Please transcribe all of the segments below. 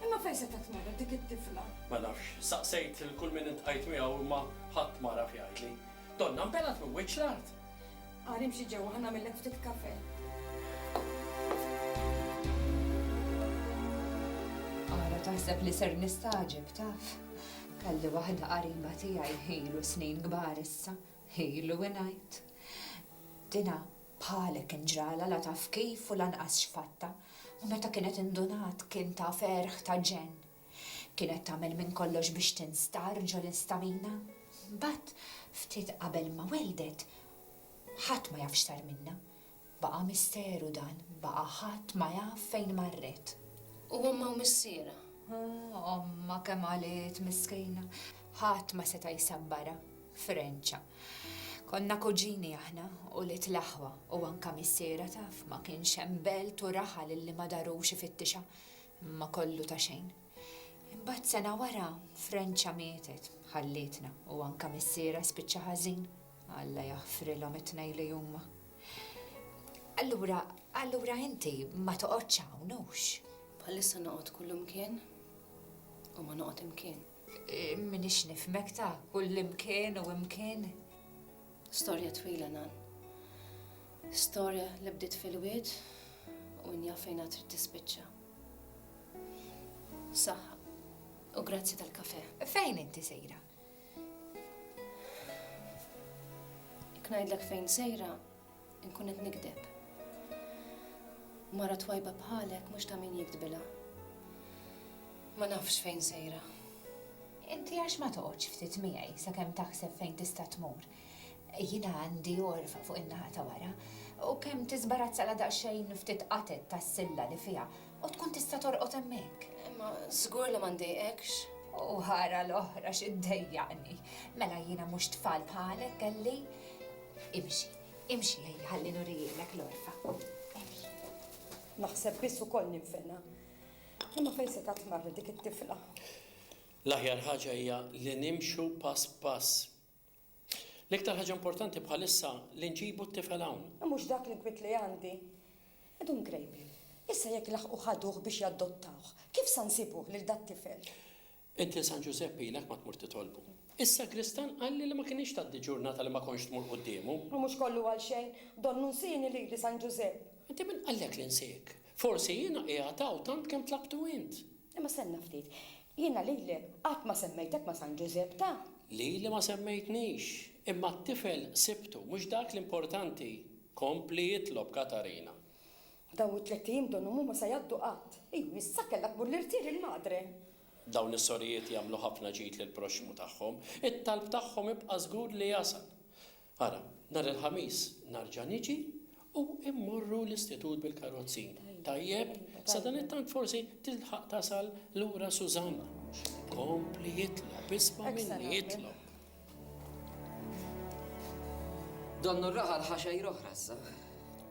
Imma fejn setgħet marret dik it-tifla? Ma nafx. Staqsejt lil kull min iltqajt miegħu imma ħadd ma għaraf jgħidli. Donnha nbelgħet minn wiċċ l-art. Agħar imxi ġewwa ħa nagħmillek ftit kafè. Ara taħseb li ser nistagħġeb taf? Kelli waħda qariba tiegħi ilu snin kbar issa, ilu ingħid. Dinha Bħalek inġralha la taf kif u lanqas x'fatta, u meta kienet indunat kien ta' ferħ ta' ġenn. Kienet tagħmel minn kollox biex tinstar ġol instamina. Mbagħad ftit qabel ma welldet, ħadd ma jaf x'sar minnha. Baqa' misteru dan, baqa' ħadd ma jaf fejn marret. U ommha u missierha? Ommha kemm għaliet miskina. Ħadd ma seta' jsabbarha. Frenċa. Konna kuġini aħna, ulied l-aħwa, u anka missierha taf, ma kienx hemm belt u raħal illi ma darux ifittixha, imma kollu ta' xejn. Imbagħad sena wara, Frenċa mietet, ħallietna, u anka missierha spiċċa ħażin, Alla jaħfrilhom it-tnejn li huma. Allura, allura inti ma toqgħodx hawn, hux? Bħalissa noqgħod kullum kien u ma noqgħod imkien. M'iniex nifhmek ta' kullimkien u imkien. Storja twila Nan. Storja li bdiet fil-wied u min jaf fejn għad trid tispiċċa. Saħħa u grazzi tal-kafè. Fejn inti sejra? Jekk ngħidlek fejn sejra, Inkun qed nigdeb. Mara twajba bħalek mhux ta' min jiktbilha. Ma nafx fejn sejra. Inti għax ma toqgħodx ftit miegħi sakemm taħseb fejn tista' tmur. Jiena għandi għorfa fuq in-naħa ta' wara u kemm tiżbarazzala daqsxejn ftit qatet tas-silla li fiha u tkun tista' torqod hemmhekk. Imma żgur li ma ndejqekx. U ħara l-oħra x'iddejjaqni. Mela jiena mhux tfal bħalek kelli. Imxi, imxi lejli ħalli nurihielek l-għorfa. Emxi. Naħseb biss ukoll ninfena. Imma fejn se tatmarri dik it-tifla? L-aħjar ħaġa hija li nimxu pass pass. L-iktar ħaġa importanti bħalissa li nġibu t-tifel hawn. Mhux dak li kwit li għandi. Edum grejbi. Issa jekk laħqu ħaduh biex jaddottawh, kif sa nsibuh lil dat-tifel? Int lil San Ġużepp ilek ma tmur titolbu. Is-sagristan qalli li ma kinitx tgħaddi ġurnata li ma kontx tmur quddiemu. U mhux kollu għal xejn, donnu nsieni lili San Ġużepp. Inti min qallek li nsiek? Forsi jiena qiegħed hawn tant kemm tlabtu int. Imma stenna ftit. Jiena lilek qatt ma semmejtek ma' San Ġużepp ta. Lili ma semmejtnix. Imma t-tifel sibtu, mhux dak l-importanti. Kompli itlob, Katarina. Dawn it-tlett ijiem donnhom huma sa jgħaddu qatt. Iju, issa kellha tmur l-irtiel il-madre. Dawn is-sorijiet jagħmlu ħafna ġid lill-proxxmu tagħhom. It-talb tagħhom ibqa' żgur li jasal. Ara, nhar il-Ħamis narġa' niġi u mmorru l-istitut bil-karozzi. Tajjeb? Sadanittant forsi tilħaq tasal lura Susanna. Kompli jitlob, isma' minni, itlob. Donnu r-raħal ħa xejra oħra issa.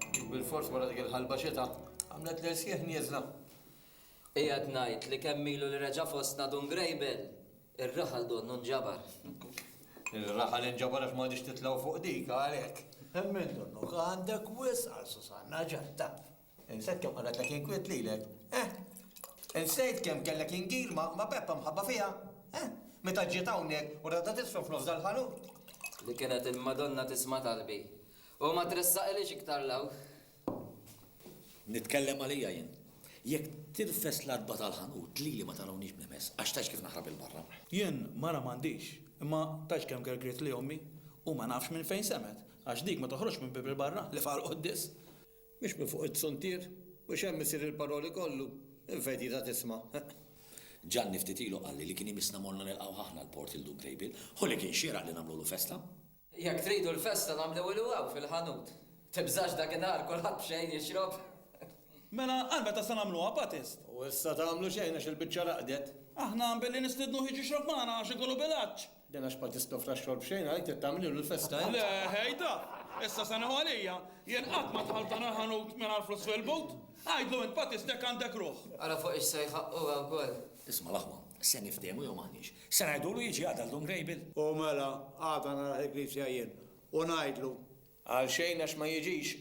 Dik bil-fors wara dik il-ħalba xita għamlet l-irsieħ nieżla. Qiegħed ngħid li kemm ilu li reġa' fostna Dun Grejbel, ir-raħal donnu nġabar. Ir-raħal inġabar għax m'għadix titlgħu fuq dik għalhekk. Emmen donnuk, għandek wisq għal Susanna, ġa taf. Insejt kemm qannetlek inkwiet lilek, eh? Insejt kemm kellek ingil ma' Peppa mħabba fiha, eh? Meta ġiet hawnhekk u ratha tisfel f'nofs dal-ħanut. Li kienet il-Madonna tisma' talbi u ma tressaqilix iktar 'l hawn. Nitkellem għalija jien. Jekk tirfes l-għatba tal-ħanut lili ma tarawniex b'nimess għax tgħidx kif naħrab 'il barra. Jien mara m'għandix, imma tgħidx kemm gergritli ommi u ma nafx minn fejn semgħet għax dik ma toħroġx minn bieb 'il barra li faqa' l-quddies. Mhux minn fuq it-tsuntier, u x'hemm isir il-paroli kollu, minn fejn tita' tisma', eħ. Ġanni ftit ilu qalli li kien imissna morna nilqgħuh aħna l-port lil Dun Krejbil. Hu li kien xieraq li nagħmlulu festa. Jekk tridu l-festa nagħmliwilu hawn fil-ħanut. Tibżax dak in-nhar kulħadd b'xejn jixrob. Mela għal meta se nagħmluha, Batist? U issa tagħmlu xejn għax il-biċċa raqdet. Aħna billi nistidnuh jiġi jixrob magħna għax ikollu bilanċ. Dan għax ma tistofrax xorb xejn għalhekk trid tagħmlilu l-festa int. Le, ħejda! Issa se neħu għalija. Jien qatt ma dħalt dan il-ħanut mingħajr flus fil-but. Għidlu int Batistek għandek ruħ. Ara fuq ix se jħaqqu hawn ukoll. Isma' l-aħwa, se niftehmu jew m'aħniex? Se ngħidulu jiġi għada l-Dun Grejbil? U mela, għada naraħ il-knisja jien u ngħidlu. Għalxejn għax ma jiġix.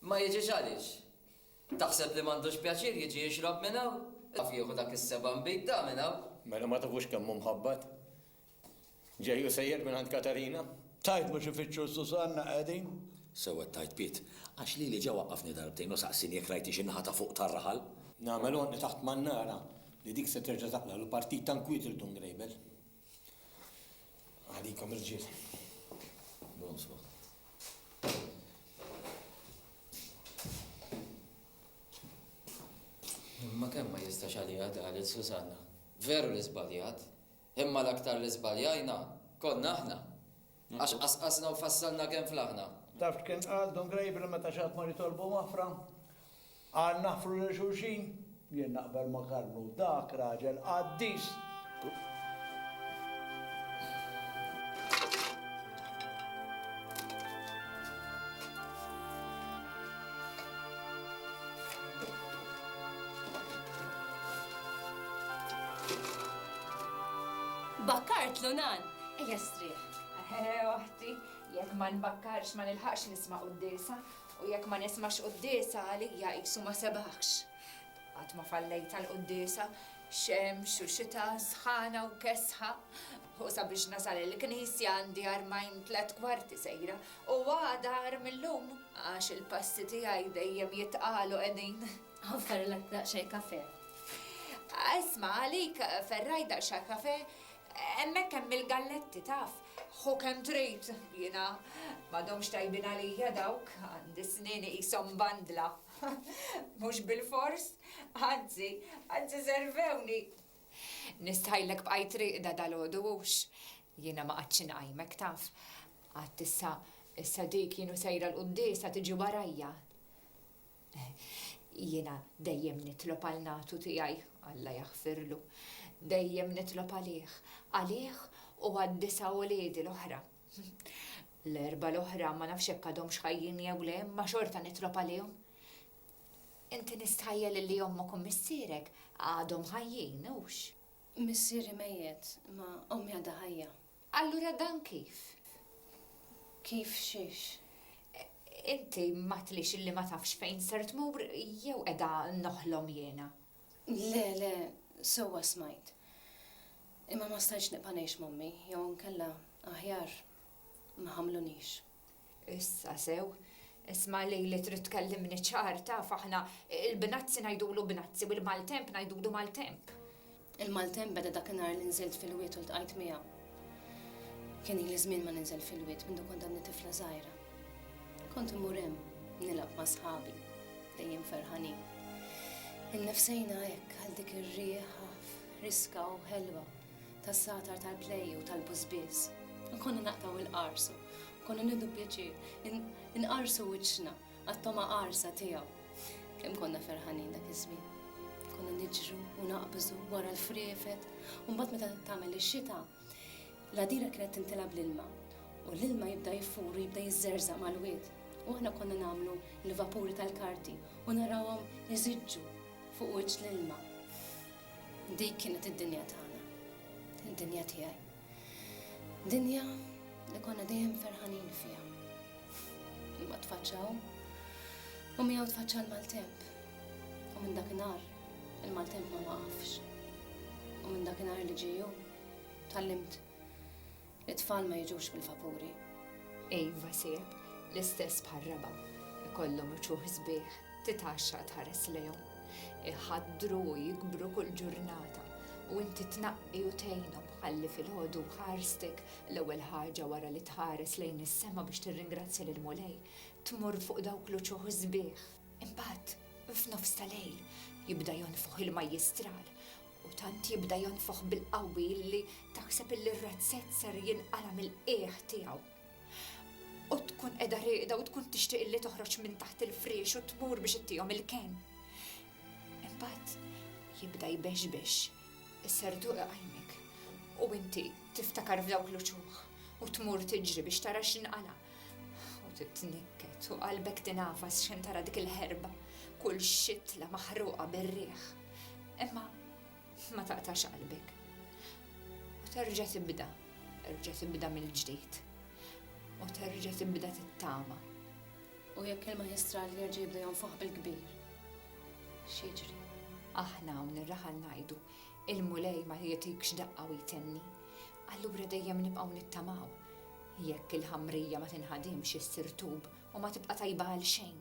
Ma jiġix għaliex? Taħseb li m'għandux pjaċir jiġi jixrob minn hawn? Taf jieħu dak is-seba' nbid da minn hawn? Mela ma tafux kemm hu mħabbat? Ġej u sejjer mingħand Katarina? Tajt mhux ifittxu Susanna qegħdin? Sewwa tajt Piet, għax lili ġa waqqafni darbtejn u saqsieni jekk rajtix in-naħa ta' fuq tar-raħal. Nagħmel għonqi taħt ma nara li dik se terġa' taqla' l-partit ta' nkwiet il-Dun Grejbel. Għalikom irġiel. Bonsoir. Imma kemm ma jistax għalija daħlet Susanna. Veru li żbaljat, imma l-aktar li żbaljajna konna aħna. Għax qasqasna u fassalna kemm flaħna. Taf x'kien qal Dun Grejbli meta xi ħaddmar jitolbu maħfra? Qal naħfru lil xulxin. Jien naqbel ma' Karlu, dak raġel qaddis! Bakkartlu nan! Ejja strieħ. Eħe, oħti, jekk ma nbakkarx ma nilħaqx nisma' quddiesa, u jekk ma nismax quddiesa għalija qisu ma sebaħx. Qatt ma fallejt għall-quddiesa, xemx u xita, sħana u kesħa, u sabiex nasal il-knisja għandi armajn tliet kwarti sejra, u għada agħar mil-lum, għax il-passi tiegħi dejjem jitqalu qegħdin. Offerlek daqsxejn kafè. Isma' għalik ferraj daqsxejn kafè, Hemmhekk hemm il-galletti, taf. Ħu kemm trid, jiena. M'għadhomx tajbin għalija dawk, għandi snieni qishom mbandla. Mhux bilfors, anzi, anzi servewni. Nistħajlek bqajt rieqda dalgħodu, hux? Jiena ma qgħadtx inqajmek, taf. Għadt issa, issa dik jien u sejra l-quddiesa tiġi warajja. Jiena dejjem nitlob għal natu tiegħi, Alla jaħfirlu, dejjem nitlob għalih, għalih u għad-disa' uliedi l-oħra. L-erbgħa l-oħra ma nafx jekk għadhomx ħajjin jew le, imma xorta nitlob għalihom. Inti nistħajjel illi ommok u missierek għadhom ħajjin, hux? Missieri mejjet, imma ommi għadha ħajja. Allura dan kif? Kif xiex? Inti m'għadtlix illi ma tafx fejn ser tmur jew qiegħda noħlom jiena? Le, le, sewwa smajt. Imma ma stajtx nibqa' ngħix m'ommi jew inkella, aħjar, ma ħamlunix. Issa sew. Isma' lili trid tkellimni ċar, taf aħna il-Bnazzi ngħidulu Bnazzi u l-Maltemp ngħidulu Maltemp. Il-Maltemp beda dakinhar li nżilt fil-wied u ltqajt miegħu. Kien ili żmien ma ninżel fil-wied mindu kont għadni tifla żgħira. Kont immur hemm nilgħab ma' sħabi, dejjem ferħanin. Innifsejna hekk għal dik ir-rieħa riska u ħelwa tas-satar tal-play u tal-bużbież. Nkunu naqtgħu il-qarsu, nkunu nieħdu pjaċir, inqarsu wiċċna għat-togħma qarsa tiegħu. Kemm konna ferħanin dak iż-żmien. Konna niġru u naqbżu wara l-friefet, u mbagħad meta tagħmel ix-xita, l-għadira kienet tintilha bl-ilma u l-ilma jibda jifur u jibda jiżżerżaq mal-wied. U aħna konna nagħmlu l-vapuri tal-karti u narawhom iżiġġu fuq wiċċ l-ilma. Dik kienet id-dinja tagħna, id-dinja tiegħi. Dinja li konna dejjem ferħanin fiha. Imma tfaċċaw u miegħu tfaċċa l-maltemp. U minn dakinhar il-maltemp ma waqafx. U minn dakinhar li ġiju tallimt It-tfal ma jiġux bil-vapuri. Iva sieħeb, l-istess bħar-raba'. Ikollhom uċuħ sbieħ, titgħaxxaq tħares lejhom. Iħaddru u jikbru kull ġurnata u inti tnaqqi u tgħinhom ħalli filgħodu ħarstek l-ewwel ħaġa wara li tħares lejn is-sema biex tirringrazzja lill-Mulej, tmur fuq dawk l-uċuħ sbieħ. Imbagħad, f'nofs ta' lejl, jibda jonfoħ il-majjistral U tant jibda jonfoħ bil-qawwi li taħseb illi r-razzett ser jinqala' mill-qiegħ tiegħu. U tkun qiegħda rieqda u tkun tixtieq illi toħroġ minn taħt il-friex u tmur biex ittihom il-kenn. Imbagħad jibda jbexbex, isser duq iqajmek, u inti tiftakar f'dawk l-uċuħ u tmur tiġri biex tara x'inqala'. U titnikket u qalbek tingħafas x'inhi tara dik il-ħerba, kull xitla maħruqa bir-riħ. Imma ma taqtax qalbek. U terġa' tibda, terġa' tibda mill-ġdid. U terġa' tibda tittama. U jekk il-maġistrat jerġa' jibda jonfoħ bil-kbir, x'jiġri? Aħna hawn ir-raħal ngħidu, il-Mulej ma jagħtikx daqqa u jtenni. Allura dejjem nibqgħu nittamaw. Jekk il-ħamrija ma tinħadimx issir tub u ma tibqa' tajba għalxejn.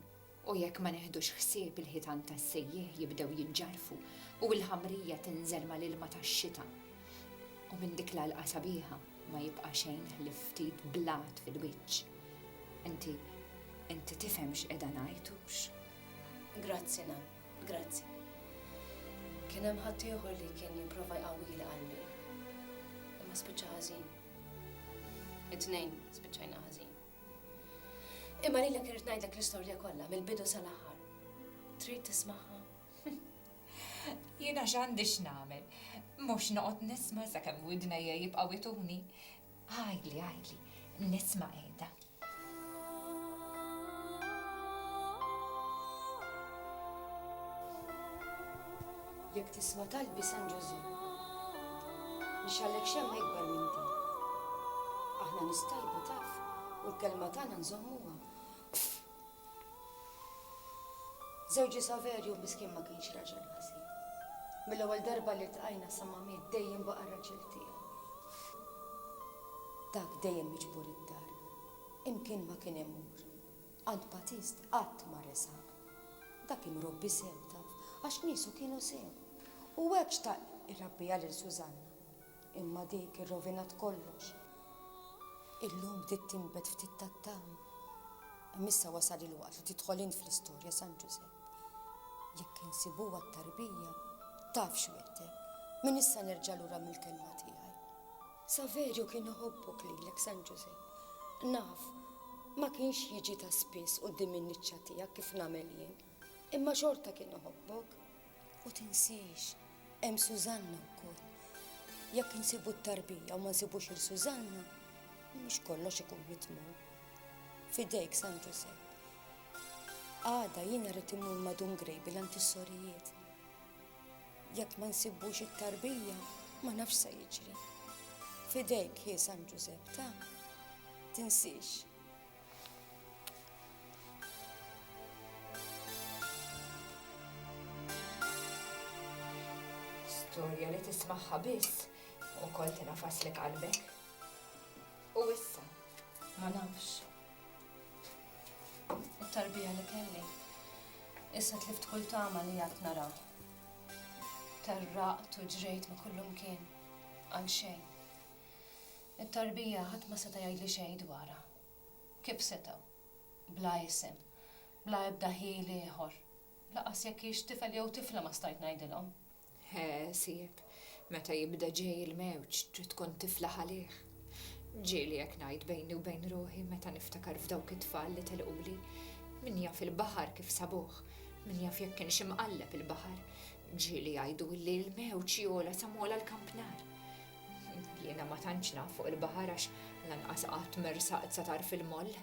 U jekk ma neħdux ħsieb il-ħitan tas-sejjieħ jibdew jiġġarfu u l-ħamrija tinżel mal-ilma tax-xita. U minn dik l-għalqa sabiħa ma jibqa' xejn ħlief ftit blat fil-wiċċ. Inti, inti tifhem x'qiegħda ngħid hux? Grazzi nan, grazzi. Kien hemm ħadd ieħor li kien jipprova jqawwili qalbi. Imma spiċċa ħażin. It-tnejn spiċċajna ħażin. Imma lilek irrid ngħidlek l-istorja kollha mill-bidu sal-aħħar. Trid tismagħha? Jiena x'għandi x'nagħmel? Mhux noqgħod nisma' sakemm widnejja jibqgħu ituni. Għidli, għidli, nisma' qiegħda. Jekk tisma' talbi San Ġużè. Nixgħellek xemma ikbar minn din. Aħna nies tajba taf u l-kelma tagħna nżommuha. Żewġi Saverju miskien ma kienx raġel ħażin. Mill-ewwel darba li ltqajna sa ma miet dejjem baqa' r-raġel tiegħi. Dak dejjem miġbur id-dar, imkien ma kien imur. Għand Batist qatt ma resaq. Dak kien robbi sew, taf, għax niesu kienu sew. U hekk xtaq irabbiha lil Susanna. Imma dik irrovinat kollox. Illum bdiet tinbet ftit tat-tama. Imma issa wasal il-waqt li tidħol int fl-istorja, San Ġużepp. Jekk insibuha t-tarbija, taf x'wegħdtek, min issa nerġa' lura mill-kelma tiegħi. Saverio kien iħobbok lilek San Ġużepp. Naf, ma kienx jiġi ta' spiss quddiem in-niċċa tiegħek kif nagħmel jien, imma xorta kien iħobbok. U tinsiex, hemm Sużanna wkoll. Jekk insibu t-tarbija u ma nsibux lil Sużanna, mhux kollox ikun mitmum. F'idejk San Ġużepp. Għada jiena rrid immur ma' Dun Grejbil għand is-sorijiet. Jekk ma nsibbux it-tarbija, ma nafx se jiġri. Fidejk hi San Ġużepp ta' tinsiex. Storja li tismaħħa biss u kol tinafaslek qalbek. U issa, ma nafx, U t-tarbija li kelli, issa tlift kull tama li għadt nara. Terraqt u ġrejt ma' kullumkien, għal xejn. It-tarbija ħadd ma seta' jgħidli xejn dwarha. Kif setgħu? Bla isem, bla ebda ħil ieħor, lanqas jekk hix tifel jew tifla ma stajt ngħidilhom. Ħsieb, meta jibda ġej il-mewġ trid tkun tiflaħ għalih. Ġieli hekk ngħid bejni u bejn ruħi meta niftakar f'dawk it-tfal li telquli. Min jaf il-baħar kif sabuh, min jaf jekk kienx imqalleb il-baħar. Ġieli jgħidu li l-mewġ jogħla sa m'għola l-kampnar. Jiena ma tantx naf fuq il-baħar għax lanqas qatt mersaqt sa tarf il-moll.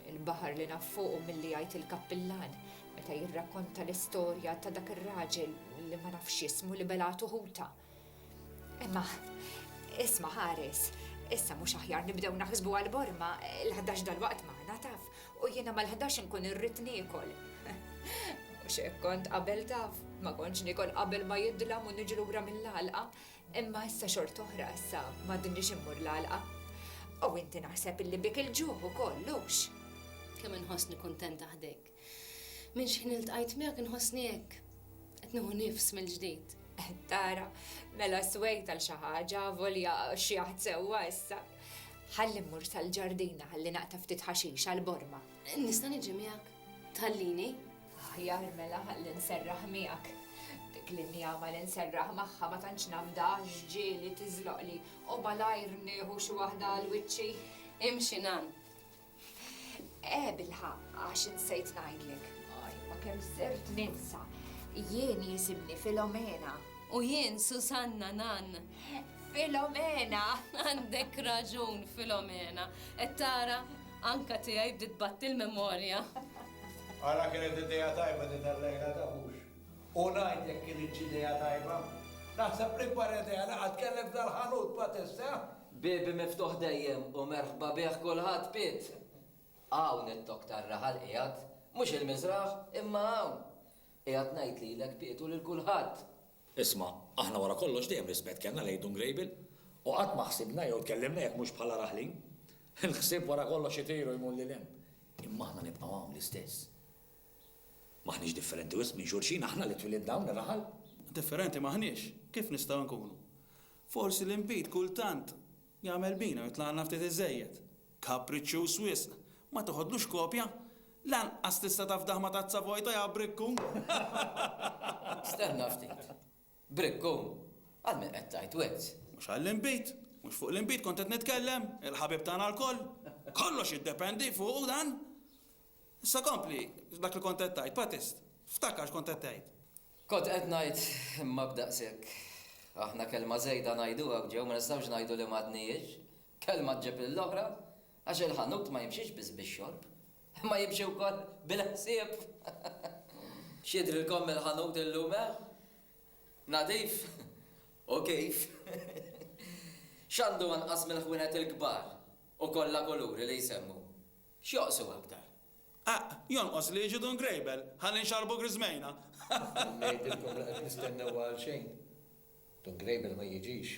Il-baħar li naf fuqu milli jgħid il-kappillan meta jirrakkonta l-istorja ta' dak ir-raġel li ma nafx x'ismu li belgħatu ħuta. Imma, isma' ħares, issa mhux aħjar nibdew naħsbu għal Borma, l-ħdax dalwaqt magħna taf, u jiena mal-ħdax inkun irrid niekol. Mhux hekk kont qabel taf, ma kontx niekol qabel ma jidlam u niġi lura mill-għalqa. Imma issa xort'oħra issa m'għadniex immur l-għalqa. U inti naħseb illi bik il-ġuħ ukoll, hux? Kemm inħossni kuntenta ħdejk. Minn xi ħin iltqajt miegħek inħossni hekk. Qed nieħu nifs mill-ġdid. Tara, mela swejt għal xi ħaġa, volja xi jaħd sewwa issa. Ħalli mmur sal-ġardina ħalli naqta' ftit ħaxix għall-borma. Nista' niġi miegħek? Tħallini? Aħjar mela ħalli nserraħ miegħek. Dik l-injama li nserraħ magħha ma tantx nafdha għax ġieli tiżloqli u malajr nieħu xi waħda għal wiċċi. Imxi nan. Eh bilħaqq għax insejt ngħidlek. Imma kemm sirt ninsa. Jien jisimni Filomena. U jien Susanna nan. Filomena! Għandek raġun, Filomena. Qed tara anka tiegħi bdiet tbatti l-memorja. Ara kienet idea tajba din tal-lejla taf hux? U ngħid jekk kinitx idea tajba? Naħseb l-ikbar idea li qatt kelli f'dal-ħanut ma tista'. Biebi miftuħ dejjem u merħba bih kulħadd Piet! Hawn it-tok tar-raħal qiegħed, mhux il-Miżraħ, imma hawn! Qiegħed ngħid lilek Piet u lil kulħadd! Isma', aħna wara kollox dejjem rispett kellna lejn Dun Grejbil u qatt ma ħsibna jew tkellimna jekk mhux bħala raħlin. Il-ħsieb wara kollox itir u jmur lil hemm. Imma aħna nibqgħu hawn l-istess. M'aħniex differenti wisq minn xulxin, aħna li twilidna hawn ir-raħal. Differenti m'aħniex, kif nistgħu nkunu? Forsi l-inbid kultant Jagħmel bina u jitlagħna ftit iżżejjed. Kapriċċjuż wisq. Ma teħodlux kopja? Lanqas tista' tafdah ma' tazza vojta ja brikkun! Stenna ftit. Brikkun! Għal min qed tgħid wizz? Mhux għall-inbid. Mhux fuq l-inbid kont qed nitkellem, il-ħabib tagħna lkoll. Kollox jiddependi fuqu dan! Issa kompli dak li kont qed tgħid, Patist. Ftakar x'kont qed tgħid. Kont qed ngħid, imma b'daqshekk. Aħna kelma żejda ngħiduha hawn ġew, ma nistgħux ngħidu li m'għadnihiex. Kelma ġġib lill-oħra, għax il-ħanut ma jimxiex biss bix-xorb, imma jimxi wkoll bil-ħsieb. X'jidhrilkom mill-ħanut illum, eh? Nadif? U kif! X'għandu anqas mill-ħwienet il-kbar u kollha kuluri li jsemmu? X'joqsu aktar? Aqq! Jonqos li jiġu Dun Grejbel, ħalli nxarrbu griżmejna! Ngħidilkom li qed nistennewha għal xejn. Dun Grejbel ma jiġix.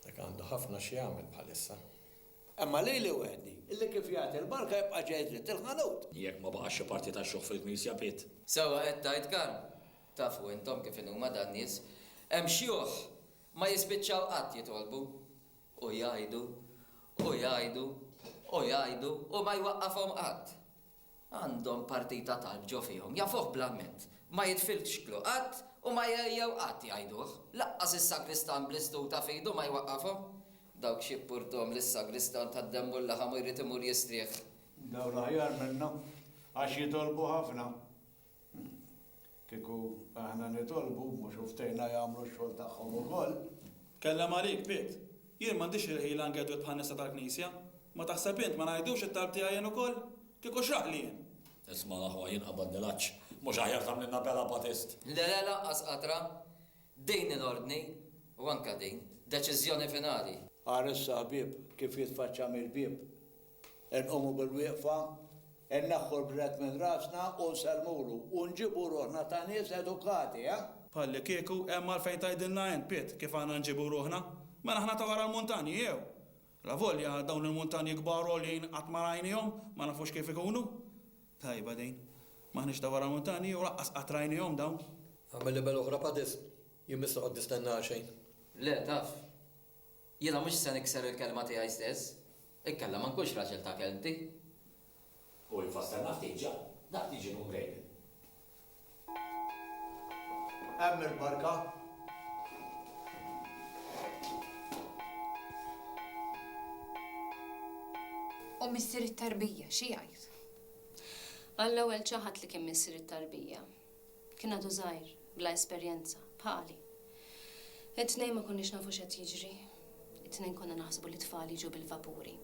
Dak għandu ħafna x'jagħmel bħalissa. Imma lili waħdi, li kif jagħti l-barka jibqa' ġej dritt il-ħanut! Jekk ma baqax xi parti tax-xogħol fil-knisja, Piet. Sewwa qed tgħid Karm. Tafu intom kif inhuma dan-nies. Hemm xjuħ ma jispiċċaw qatt jitolbu. U jgħidu, u jgħidu, u jgħidu u ma jwaqqafhom qatt. Għandhom partita talb ġo fihom, jafuh bl-amment. Ma jitfilx xklu qatt u ma jgħejjew qatt jgħiduh. Laqqas is-sagristan bl-istuta f'idu ma jwaqqafhom. Dawk x'jippurthom li s-sagristan ta' demm u l-laħam u jrid imur jistrieħ. Dawn aħjar minna għax jitolbu ħafna. Kieku aħna nitolbu, mhux hu ftehna jagħmlu x-xogħol tagħhom ukoll? Tkellem għalik, Piet. Jien m'għandix il-ħila ngedwed bħan-nisa tal-Knisja. Ma taħseb int ma ngħidux it-talb tiegħi jien ukoll? Kieku x'raħli jien! Isma' l-aħwa, jien qabadni l-għatx. Mhux aħjar tagħmlilna bela, Batist? Le, le, lanqas qatra. Din hi l-ordni, u anke din, deċiżjoni finali. Ara issa, ħbieb, kif jitfaċċa mill-bieb. Inqumu bil-wieqfa, inneħħu l-bret minn rasna u nsellmulu u nġibu ruħna ta' nies edukati, eh? Bħallikieku hemm għalfejn tgħidilna int, Piet, kif għandna nġibu ruħna? Mela aħna ta' wara l-muntanji, jew? Lavolja dawn il-muntanji kbar u għoljin qatt ma rajnihom, ma nafux kif ikunu. Tajba din. M'aħniex ta' wara l-muntanji u laqqas qatt rajnihom dawn. Agħmel libell oħra pa' disk. Jien m'issa qgħodt nistenna għal xejn. Le, taf. Jiena mhux se nikser il-kelma tiegħi stess, inkella ma nkunx raġel ta' kelmti. U infassalna ftit ġa dak li ġienu mrejjel. Hemm il-barka. U missier it-tarbija, xi jgħid? Għall-ewwel ċaħad li kien missier it-tarbija. Kien għadu żgħir, bla esperjenza, bħali. It-tnejn ma konniex nafu x'qed jiġri. It-tnejn konna naħsbu li t-tfal jiġu bil-vapuri.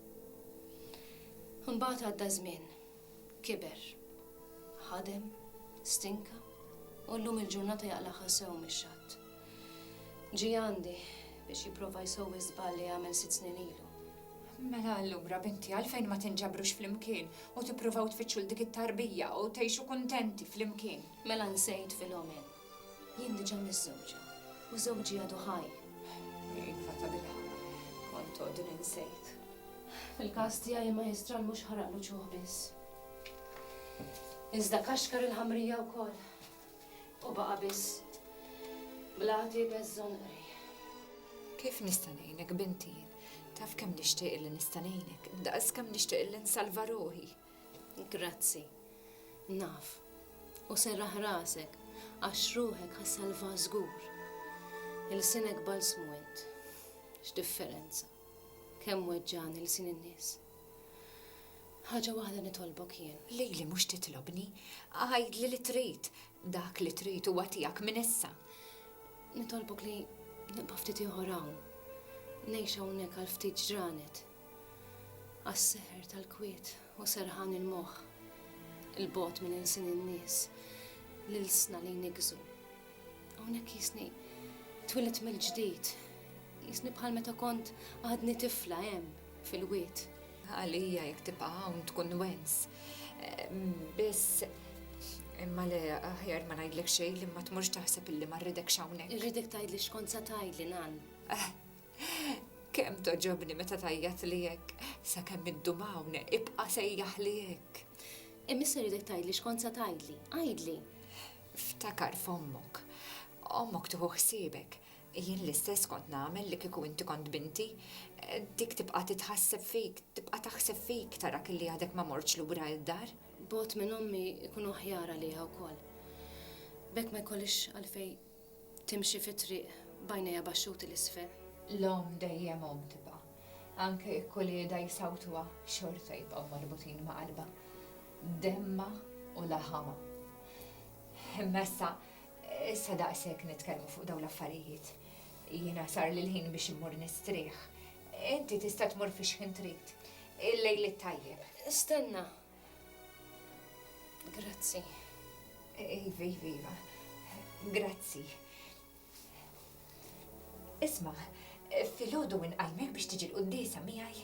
Imbagħad għadda żmien. Kiber. Ħadem, stinka, u llum il-ġurnata jaqlagħha sew mix-xatt. Ġie għandi biex jipprova jsowwi żball li għamel sitt snin ilu. Mela allura, binti, għalfejn ma tinġabrux flimkien u tippruvaw tfittxu 'l dik it-tarbija u tgħixu kuntenti flimkien? Mela nsejt Filomena. Jien diġà miżżewġa u żewġi għadu ħaj. Iva, tabilħaqq, kont għodu ninsejt. Fil-każ tiegħi il-Majjistral mhux ħaraqlu ċuħ biss, iżda kaxkar il-ħamrija wkoll. U baqa' biss bl-għati beż-żonqri. Kif nista' ngħinek bint jien. Taf kemm nixtieq li nista' ngħinek. Daqs kemm nixtieq li nsalva ruħi. Grazzi. Naf. U serraħ rasek għax ruħek ħa ssalvaha żgur. Ilsinek balsmu int. X'differenza. Kemm weġġagħni lsien in-nies. Ħaġa waħda nitolbok jien. Lili mhux titlobni. Għidli li trid. Dak li trid huwa tiegħek minn issa. Nitolbok li nibqa' ftit ieħor hawn. Ngħix hawnhekk għal ftit ġranet. Għas-seħer tal-kwiet. Hu serħan il-moħħ, 'il bogħod minn ilsien in-nies, l-ilsna li jniggżu. Hawnhekk jisni twilet mill-ġdid, jisni bħal meta kont għadni tifla hemm fil-wied. Għalija jekk tibqa' hawn tkun wens. Biss Imma le, aħjar ma ngħidlek xejn li ma tmurx taħseb illi ma rridek xawnek. Irridek tgħidli xkont sa tgħidli nan. Eh, Kemm togħġobni meta tgħajjatli hekk, sakemm iddum hawn, ibqa' sejjaħli hekk. Imissa rridek tgħidli x'kont se tgħidli, għidli. Ftakar f'ommok. Ommok tieħu ħsiebek. Jien l-istess kont nagħmel li kieku inti kont binti. Dik tibqa' titħasseb fik, tibqa' taħseb fik tarak li għadek ma mortx lura id-dar. Bogħod minn ommi jkun aħjar għaliha wkoll. B'hekk ma jkollix għalfejn Timxi fit-triq b'għajnejha baxxuti 'l isfel. L-omm dejjem omm tibqa'. Anke jekk uliedha jsawtuha, xorta jibqgħu marbutin ma' qalbha, demmha u laħamha. Imma issa, issa daqshekk nitkellmu fuq dawn l-affarijiet. Jiena sarli l-ħin biex immur nistrieħ. Inti tista' tmur fix-xħin trid. Il-lejl it-tajjeb. Stenna! Grazzi. Iva, iva, iva. Grazzi. Isma, fil-ħodu minn qalmek biex tiġi l-qoddisa miħaj.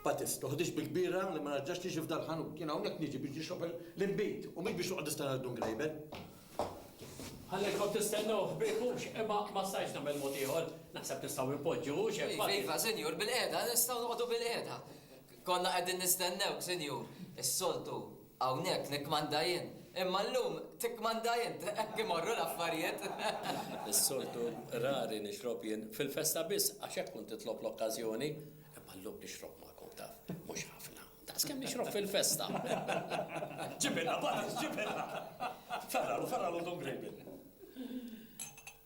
Patis, toħdix bil-kbira li ma narġax tiġi f'dal ħanut. Jien hawnhekk niġi biex nixrob l-inbid u mhix biex noqgħod nistenna dun grejben. Ħalli kont tistennew ħbieb hux, imma ma stajx nagħmel mod ieħor. Naħseb nistgħu npoġġu hux hekk. Iva, iva, senjur, bil-qiegħda, nistgħu noqogħdu bil-qiegħda. Konna qegħdin nistennewk, Sinjur. Is-soltu hawnhekk nikkmanda jien, imma llum tikkmanda int. Hekk imorru l-affarijiet. Is-soltu rari nixrob jien fil-festa biss għax hekk tkun titlob l-okkażjoni, imma llum nixrob magħkom, taf, mhux ħafna, daqs kemm nixrob fil-festa. Ġibilna, Barnes, ġibilna! Ferralu, ferralu Don Grejbin.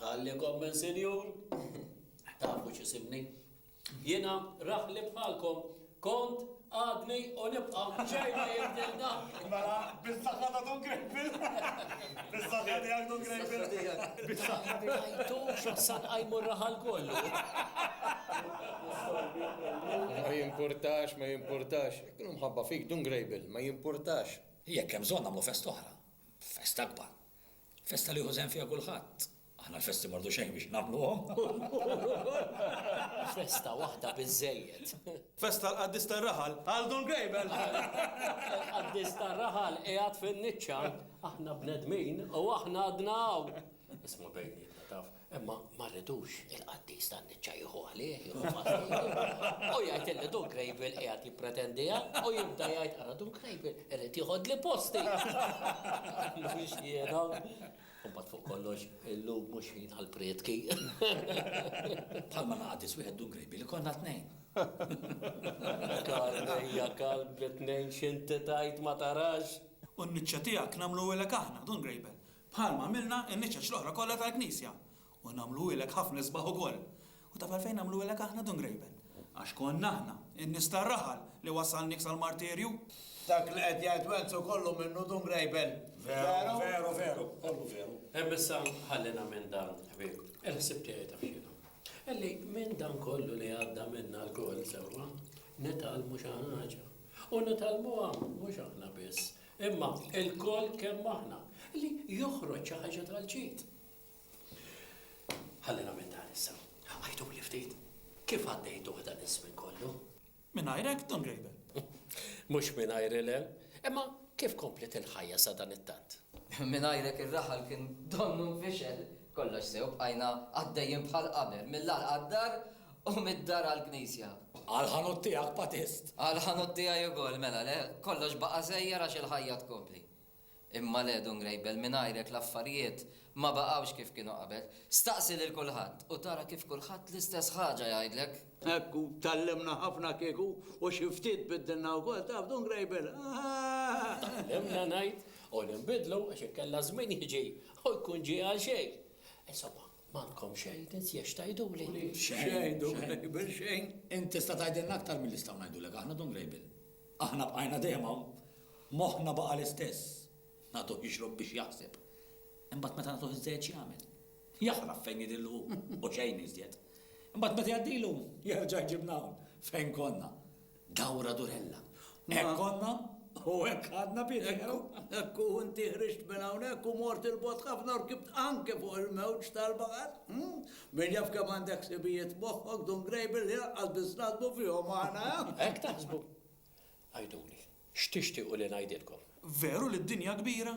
Qalli kommen sinjur, tafu x'isibni. Jiena raħli bħalkom kont, għadni u nibqa' xejn ma jibdel dan. Mela, bis-saħħa ta' Dun Grejpil. Bis-saħħa tiegħek Dun Grejpil. Bis-saħħa tiegħek. Ma ngħidux għax sa nqajmu r-raħal kollu. Ma jimpurtax, ma jimpurtax. Jekk inhu mħabba fik Dun Grejpil, ma jimpurtax. Jekk hemm bżonn nagħmlu festa oħra. Festa akbar. Festa li jieħu sehem fiha kulħadd. Aħna l-festi m'għordu xejn biex nagħmluhom. Festa waħda biżżejjed. Festa l-qaddis tar-raħal, Aldo l-Gejbel! Il-qaddis tar-raħal qiegħed fin-niċċa, aħna bnedmin u aħna għadna hawn. Isma' bejnietna taf, Imma ma rridux il-qaddis tan-niċċa jieħu għalih, jieħu pastijiet, u jgħid illi Dun Krejbil qiegħed jippretendiha, u jibda jgħid, ara Dun Krejbil irid jieħodli posti! Mhux jiena! U mbagħad fuq kollox, illum mhux ħin għall-prietki. Bħalma ma qaddis wieħed Dun Krejbil, ikollna tnejn! Kalb ejja kalb bi tnejn x'inti tgħid ma tarax! U n-niċċa tiegħek nagħmluhilek aħna, Dun Krejbil, bħalma għamilna n-niċeċ l-oħra kollha tal-knisja, u nagħmluhielek ħafna isbaħ ukoll. U taf għalfejn għamluhielek aħna, Dun Grejben? Għax konna aħna, in-nies tar-raħal, li wassalniek sal-martirju. Dak li qed jgħid Wenzel kollu minnu, Dun Grejben. Veru? Veru, veru, kollu veru. Imma issa ħallina minn dan, ħbieb. Il-ħsieb tiegħi taf x'inhu. Illi minn dan kollu li għadda minna lkoll sewwa, nitgħallmu xi ħaġa. U nitgħallmuha mhux aħna biss, Imma ilkoll kemm aħna, li joħroġ xi ħaġa tal-ġid. Ħallina minn dan issa. Għajtuli ftit, kif għaddejtuh dan iż-żmien kollu? Mingħajrek, Don Grejbel. Mhux mingħajr ilem, imma kif komplet il-ħajja sa dan it-tant? Mingħajrek ir-raħal kien donnu nfixel. Kollox sew bqajna għaddejjin bħal qabel, mill-għalqa d-dar U mid-dar għall-knisja. Għall-ħanut tiegħek patist. Għall-ħanut tiegħi ukoll, mela le, kollox baqa' żejjer għax il-ħajja tkompli. Imma le, Dun Grejbel, mingħajrek l-affarijiet ma baqgħux kif kienu qabel. Staqsi lil kulħadd u tara kif kulħadd l-istess ħaġa jgħidlek. Hekk u tgħallimna ħafna kieku u xi ftit biddilna wkoll, taf, Dun Grejbel, ah! Tgħallimna ngħid u li nbiddlu għax inkella żmien jiġi u jkun ġie għal xejn. Insomma, M'għandkom xejn iżjed x'tgħiduli? Xejn, Dun Grejbel, xejn. Int tista' tgħidilna aktar milli nistgħu ngħidulek aħna, Dun Grejbel. Aħna bqajna dejjem hawn. Moħħna baqa' l-istess. Nagħtuh jixrob biex jaħseb. Imbagħad meta nagħtuh iżżejjed x'jagħmel? Jaħrab fejn jidhirlu hu, u xejn iżjed. Imbagħad meta jgħaddilu, jerġa' jġibna hawn, fejn konna. Dawra Durella. Hekk konna u hekk għadna Pietru. Hekk u inti ħriġt minn hawnhekk u mort il-bot ħafna u rkibt anke fuq il-mewġ tal-baħar. Hm? Min jaf kemm għandek sibijiet moħħok dun grejbil li lanqas biss naħsbu fihom aħna. Eh? Hekk taħsbu? Għiduli, x'tixtiequ li ngħidilkom? Veru li d-dinja kbira?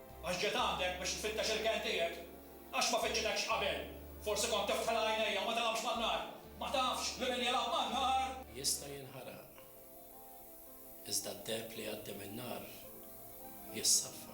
Għax ġejt għandek biex tfittex il-kenn tiegħek? Għax ma fittxitekx qabel? Forsi kont tiftħilha għajnejja u ma tilgħabx man-nar? Ma tafx li min jilgħab man-nar. Jista' jinħaraq, iżda d-deheb li jgħaddi min-nar jissaffa.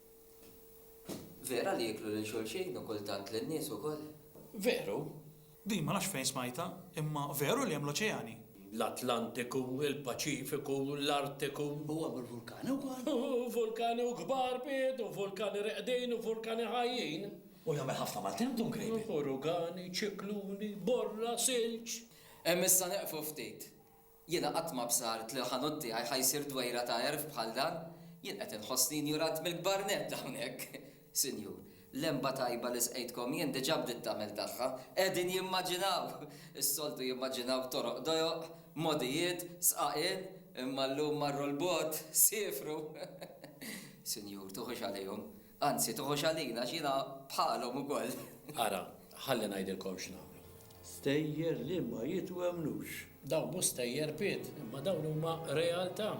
Vera li jieklu lil xulxin u kultant lin-nies ukoll? Veru. Din ma nafx fejn smajtha, imma veru li hemm l-oċeani? L-Atlantiku, il-Paċifiku, l-Artiku. U hemm il-vulkani wkoll? Vulkani u kbar, Piet, u vulkani reqdin u vulkani ħajjin. U jagħmel ħafna maltemp Dun Grejbi? Urugani, ċikluni, borra, silġ. Hemm issa neqfu ftit. Jiena qatt ma bsart li l-ħanut tiegħi ħa jsir dwejra ta' għerf bħal dan. Jien qed inħossni injurant mill-kbar nett hawnhekk, Sinjur. L-għenba tajba li sqejtkom jien diġà bdiet tagħmel tagħha. Qegħdin jimmaġinaw! Is-soltu jimmaġinaw toroq dojoq, mogħdijiet, sqaqien, imma llum marru 'l bogħod, siefru. Sinjur, tuħux għalihom. Anzi, toħox għalina għax jiena bħalhom ukoll. Ara, ħalli ngħidilkom x'nagħmlu. Stejjer li ma jitwemmnux. Dawn mhux stejjer, Pit, imma dawn huma realtà.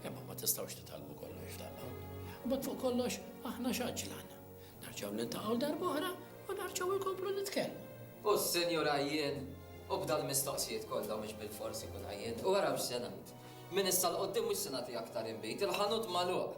Imma ma tistgħux titgħallmu kollox f'daqqa. U mbagħad fuq kollox aħna x'għaġġlan. Nerġgħu niltaqgħu darb'oħra u nerġgħu nkomplu nitkellmu. U s-Sinjur għajjien, u b'dan mistoqsijiet kollha mhux bilfors ikun għajjien. U ara x'se ngħid. Minn issa 'l quddiem mhux se nagħti aktar inbid. Il-ħanut magħluq.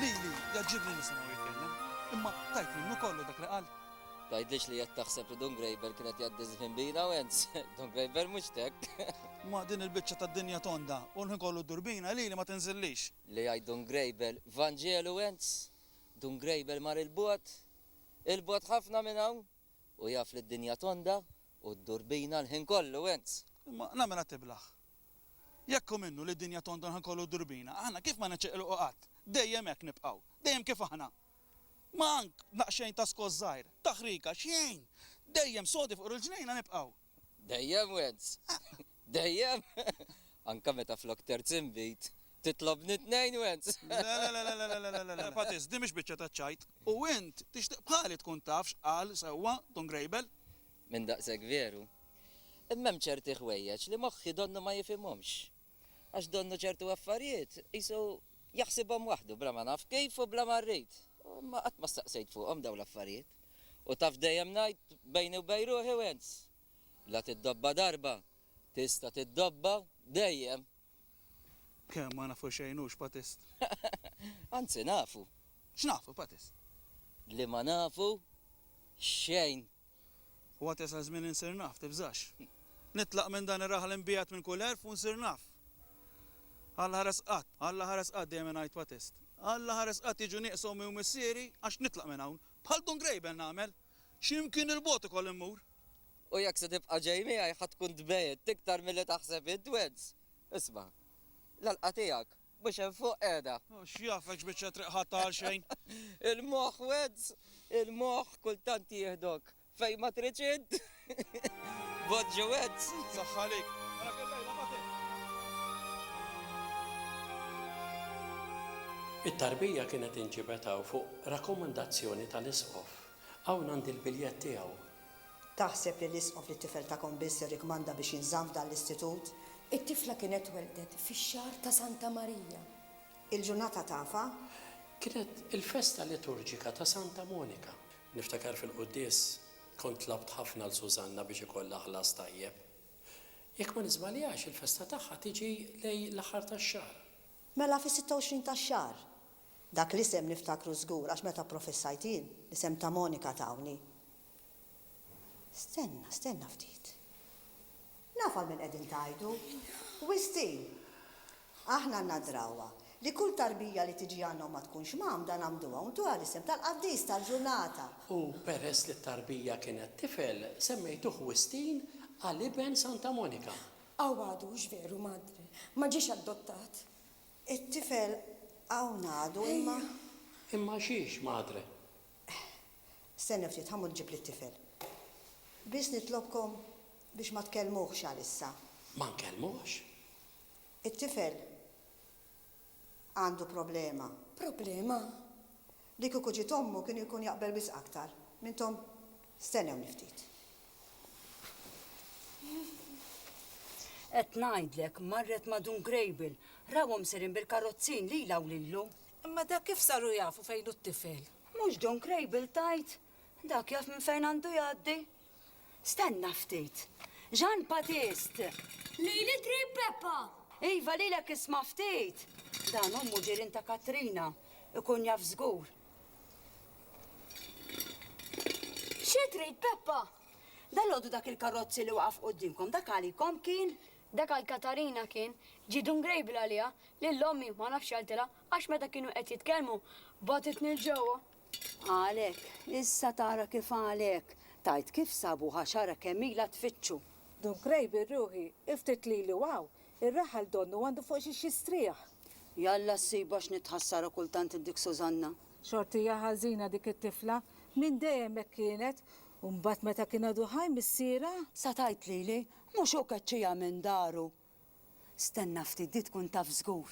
Lili jgħaġġibni nisimgħu jitkellem, imma tajt minnu kollu dak li qal. Tgħidlix li qed taħseb li Dun Graeber kien qed jgħaddi żfin bina u għens, Dun Graeber mhux tek. Ma din il-biċċa tad-dinja tonda u l-ħin kollu ddur bina, lili ma tinżillix. Li jgħid Dun Graeber, Vanġelu għens, Dun Graeber mar 'il bogħod, Il-bogħod ħafna minn hawn, u jaf li d-dinja tonda u ddur bina l-ħin kollu, ins. Imma nagħmilha tiblah. Jekk hu minnu li d-dinja tonda l-ħin kollu u ddur bina, aħna kif ma niċċeqilqu qatt? Dejjem hekk nibqgħu. Dejjem kif aħna. Ma ank naqxejn ta' skoss żgħir, taħrika, xejn! Dejjem sodi fuq il-ġnejna nibqgħu. Dejjem Wens! Dejjem! Anke meta flok terz inbid, titlobni tnejn Wens! Lelelelelelelelelelele! Patizz, din mhix biċċa taċ-ċajt! U int, tixtieq bħali tkun taf x'qal sewwa Dun Grejbel? Minn daqshekk veru. Imma hemm ċerti ħwejjeġ li moħħi donnu ma jifhimhomx. Għax donnu ċertu affarijiet qisu jaħsibhom waħdu bla ma naf kif u bla ma rrid. Imma qatt ma staqsejt fuqhom dawn l-affarijiet. U taf dejjem ngħid bejni u bejn ruħi Wens, la tiddobba darba, tista' tiddobba dejjem. Kemm ma nafu xejn hux, Patist. Anzi nafu. X'nafu, Patist? Li ma nafu xejn. Huwa tesa' żmien insir naf, tibżax. Nitlaq minn dan ir-raħal imbiegħed minn kull għerf u nsir naf. Alla ħares qatt, Alla ħares qatt, dejjem ingħid wa test. Alla ħares qatt jiġu nieqsa ommi u missieri għax nitlaq minn hawn. Bħal Dun Grejbel nagħmel. Xi mkien 'il bogħod ukoll immur. U jekk se tibqa' ġej miegħi ħa tkun tbegħidt iktar milli taħseb int Wedz. Isma'. L-għalqa tiegħek Mhux hemm fuq qiegħda. X'jafek x'biċċa triq ħadtha għalxejn? Il-moħħ Weds, il-moħħ kultant jieħdok fejn ma tridx int. Bogħod ġo Weds. Saħħa għalik. It-tarbija kienet inġibet hawn fuq rakkomandazzjoni tal-Isqof. Hawn għandi l-biljett tiegħu Taħseb li l-Isqof li t-tifel tagħkom biss irrikmanda biex jinżamm f'dan l-istitut? It-tifla kienet tweldet fix-xahar ta' Santa Marija. Il-ġurnata tafha? Kienet il-festa liturġika ta' Santa Monika. Niftakar fil-quddies kont tlabt ħafna 'l Susanna biex ikollha ħlas tajjeb. Jekk ma niżbaljax, il-festa tagħha tiġi lejn l-aħħar tax-xahar. Mela fis-26 tax-xahar, Dak l-isem niftakru żgur għax meta pprofessajt jien, l-isem ta' Monika tawni. Stenna, stenna ftit. Naf għal min qegħdin tgħidu. Wistin! Aħna għandna drawwa li kull tarbija li tiġi għandna u ma tkunx mgħammda ngħammduha u ntuha l-isem tal-qaddis tal-ġurnata. U peress li t-tarbija kienet tifel, semmejtuh Wistin għal iben Santa Monika. Aw għadux veru madre, ma ġiex addottat? It-tifel hawn għadu, imma. Ejja, imma xiex, madre? Stenna ftit, ħa mmur nġibli t-tifel. Biss nitlobkom biex ma tkellmuhx għalissa. Ma nkellmuhx? It-tifel għandu problema. Problema? Li kieku ġiet ommu kien ikun jaqbel wisq aktar m'intom stennewni ftit. Qed ngħidlek, marret ma' Dun Grejbil, rawhom sejrin bil-karrozzin lilha u lilu. Imma dak kif saru jafu fejn hu t-tifel? Mhux Dun Grejbil tgħid? Dak jaf minn fejn għandu jgħaddi? Stenna ftit. Jean Batist! Lili qrib Peppa! Iva lilek isma' ftit! Dan hu muġirien ta' Katrina. Ikun jaf żgur. Xi trid Peppa? Dalgħodu dak il-karozzi li waqaf quddiemkom dak għalikom kien? Dak għal Katarina kien. Ġie dun Grable għaliha, lil ommi ma nafx x'għaltilha għax meta kienu qed jitkellmu bagħtitni 'l ġewwa. Għalhekk, issa tara kif għalhekk, tgħid kif sabuh għax ara kemm ilha tfittxu. Dun qrib ir-ruħi, iftit lili u hawn, ir-raħal donnu għandu fuq xiex jistrieħ. Jalla ssib għax nitħassara kultant id-dik Sużanna. Xort hija ħażina dik it-tifla, minn dejjem hekk kienet, u mbagħad meta kien għadu ħaj missierha. Sa tgħid lili, mhux hu keċċieha minn daru. Stenna ftit di tkun taf żgur.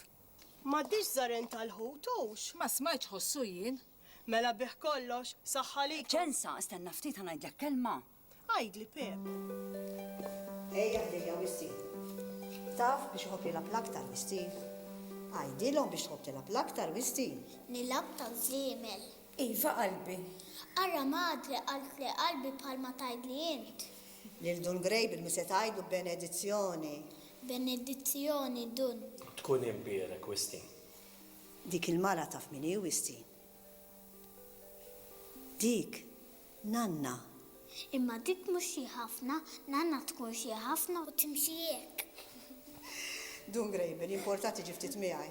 M'għaddiex żaren tal-ħut hux? Ma smajtx ħossu jien. Mela bih kollox, saħħa likom. Ċensa, stenna ftit ħa ngħidlek kelma. Għidli Peep. Ejja ħdejja Wissi. Taf biex iħobb jilgħab l-aktar Wissi? Għidilhom biex tħobb tilgħab l-aktar Wissi. Nilgħab taż-żiemel. Iva qalbi. Ara madre qaltli qalbi bħalma tgħidli int. Lil Dun Grey b'Ilmi se tgħidlu benedizzjoni. Benedizzjoni Dun. Tkun imbierek Wistin. Dik il-mara taf min hi Wistin? Dik Nanna. Imma dik mhux xi ħafna, Nanna tkun xi ħafna u timxi hekk. Dun Grey bil importa tiġi ftit miegħi.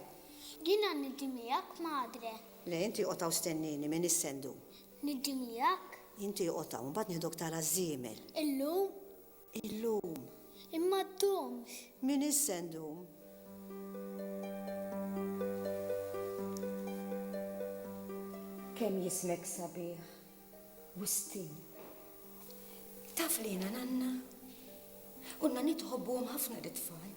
Jiena niġi miegħek madre. Le inti oqgħod hawn stennieni m'iniex se ndum. Ngħiddi miegħek. Inti oqgħod hawn, imbagħad nieħduk tara ż-żiemel. Illum? Illum. Imma ddumx. M'iniex se ndum. Kemm jismek sabiħ, Wistin. Taf li jiena nanna? Konna nitħobbuhom ħafna lit-tfal.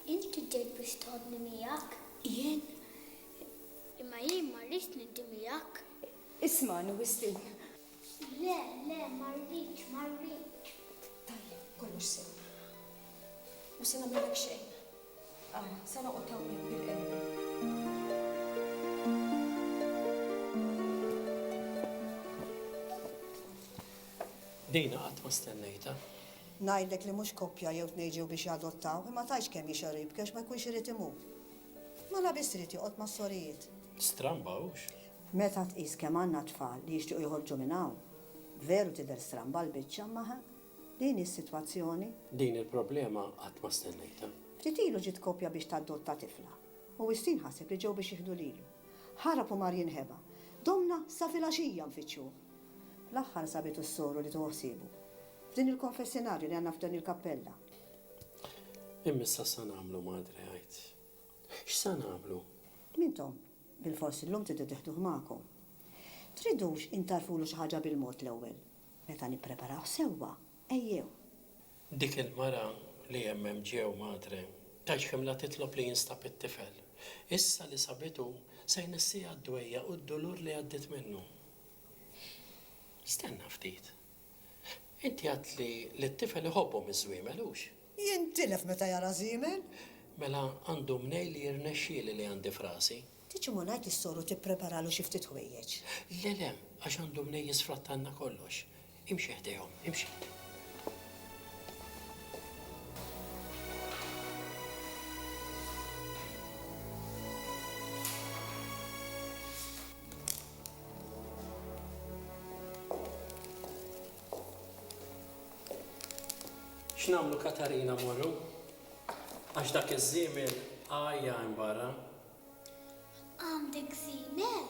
Inti ġejt biex toħodni miegħek. Jien. Imma jien ma rridx ngħiddi miegħek. Ismagħni, Wislin. Le, le, ma rridx, ma rridx. Tajjeb, kollox sew. Mhux se nagħmillek xejn. Ara, se noqgħod hawnhekk bil-qerba. Din qatt ma stennejtha. Ngħidlek li mhux koppja jew tnejn ġew biex jadottaw, imma tgħidx kemm jixgħel u jibki għax ma jkunx irid imur. Ma la biss irid joqgħod mas-sorijiet. Stramba hux? Meta tqis kemm għandna tfal li jixtiequ joħorġu minn hawn, veru tidher stramba l-biċċa imma ħa, din hi s-sitwazzjoni. Din il-problema qatt ma stennejtha. Ftit ilu ġiet koppja biex tadotta tifla. U Wistin ħaseb li ġew biex jieħdu lilu. Ħarab u mar jinħeba. Domna sa filgħaxija nfittxuh. Fl-aħħar sabitu s-soru li tuhu ħsiebu. F'din il-konfessinarju li għandna f'din il-kappella. Imma issa x'sa nagħmlu, Madre, għid. X'sa nagħmlu? Intom, bilfors illum tridu tiħduh magħkom. Tridux intgħarrfulu xi ħaġa bil-mod l-ewwel? Meta nippreparawh sewwa, ejjew. Dik il-mara li hemm hemm ġew, Madre, tgħix ħimla titlob li jinstab it-tifel. Issa li sabitu, se jnessieha d-dwejjaq u d-dulur li għaddiet minnu. Stenna ftit. Inti għidt li li t-tifel iħobbhom iż-żwiemel, hux? Jintilef meta jara żiemel. Mela għandu mnejn li jirnexxieli li għandi f'rasi. Tiġi ma ngħid lis-soru tippreparalu xi ftit ħwejjeġ. Le, le, għax għandu mnejn jisfrattalna kollox. Imxi ħdejhom, imxi. X'nagħmlu Katarina morru? Għax dak iż-żiemel għajja hemm barra. Għandek żiemel?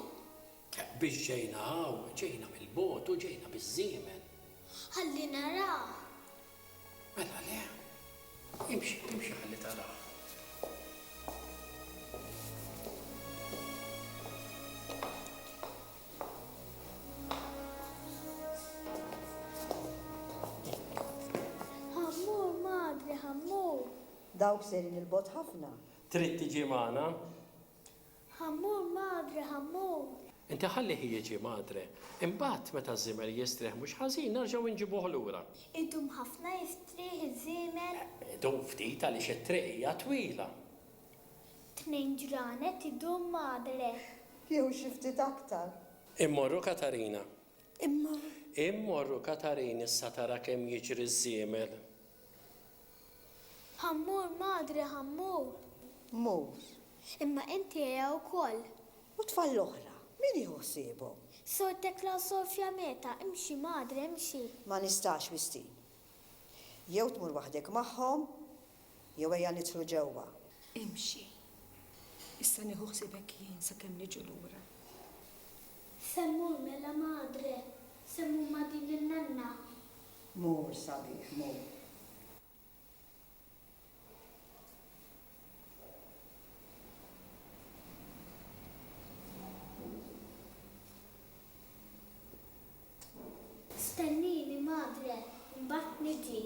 Biex ġejna hawn, ġejna mill-bogħod u ġejna biż-żiemel. Ħalli narah. Mela le. Imxi, imxi ħalli tarah. Ħa mmur, madre, ħa mmur. Dawk sejrin 'il bogħod ħafna. Trid tiġi magħna? Ħammur madre, ħammur! Inti ħallih jiġi, madre. Imbagħad, meta ż-żiemel jistrieħ mhux ħażin, nerġgħu inġibuh lura. Idum ħafna jistrieħ iż-żiemel? Idum ftit għaliex it-triq hija twila. Tnejn ġranet idum, madre. Jew xi ftit aktar. Immorru, Katarina. Imma. Immorru, Katarin, issa tara kemm jiġri ż-żiemel. Ħammur, madre, ħammur. Mhux. Imma inti qiegħa wkoll. U t-tfal l-oħra, min jieħu ħsiebhom? Sor Tekla u Sor Fiammeta, imxi, madre, imxi. Ma nistax, Wistin. Jew tmur waħdek magħhom, jew ejja nidħlu ġewwa. Imxi. Issa nieħu ħsiebek jien sakemm niġu lura. Se mmur mela, madre. Se mmur ma' din in-nanna. Mur sabiħ mur. Stennini madre mbagħad niġi.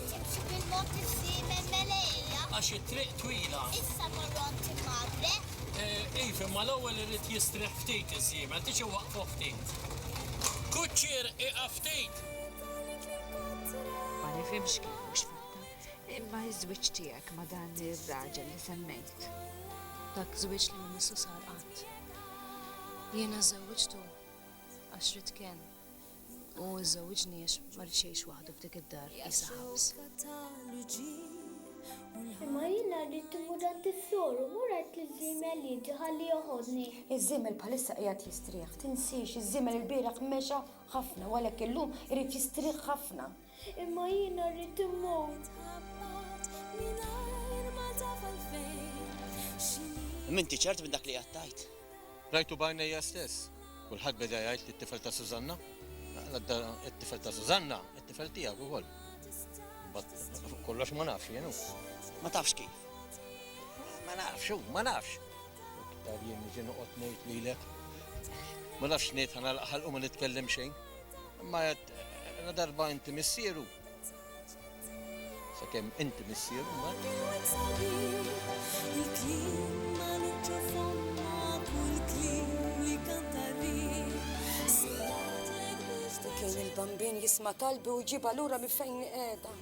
Timxi bil-mod il-ħdiemen meleqija. Għax it-triq twila. Issa morrom tim Magre. Iv, imma l-ewwel irid jistrieħ ftit iż-żiemel, tix iwaqqfu ftit. Kuċċier, ieqaf ftit! Ma nifhimx kif mhux fatta, imma ż-żwieġ tiegħek ma' dan ir-raġel li semmejt. Dak żwieġ li ma missu sar qatt. Jiena żżewwiġtu għax ridt kenn. U żżewwiġni għax ma rridx jgħix waħdu f'dik id-dar qisha ħabs. Imma jiena rrid immur għand is-sor u mur għid liż-żiemel jiġi ħalli joħodni. Iż-żiemel bħalissa qiegħed jistrieħ. Tinsiex, iż-żiemel ilbieraħ mexa ħafna u għalhekk illum irid jistrieħ ħafna. Imma jiena rrid immut. M'inti ċert minn dak li qed tgħid? Rajtu b'għajnejja stess. Kulħadd beda jgħid li t-tifel ta' Sużanna. It-tifel ta' Sużanna, it-tifel tiegħek ukoll. Imbagħad kollox ma nafx jien Ma tafx kif? Ma nafx, ma nafx. Iktar jien niġi noqgħod ngħid lilek. Ma nafx ngħid ħanalaq ħalqu ma nitkellem xejn. Imma La darba inti missieru, sakemm inti missieru, Kien il-bambin jisma' talbi u jġibha lura minn fejn qiegħda.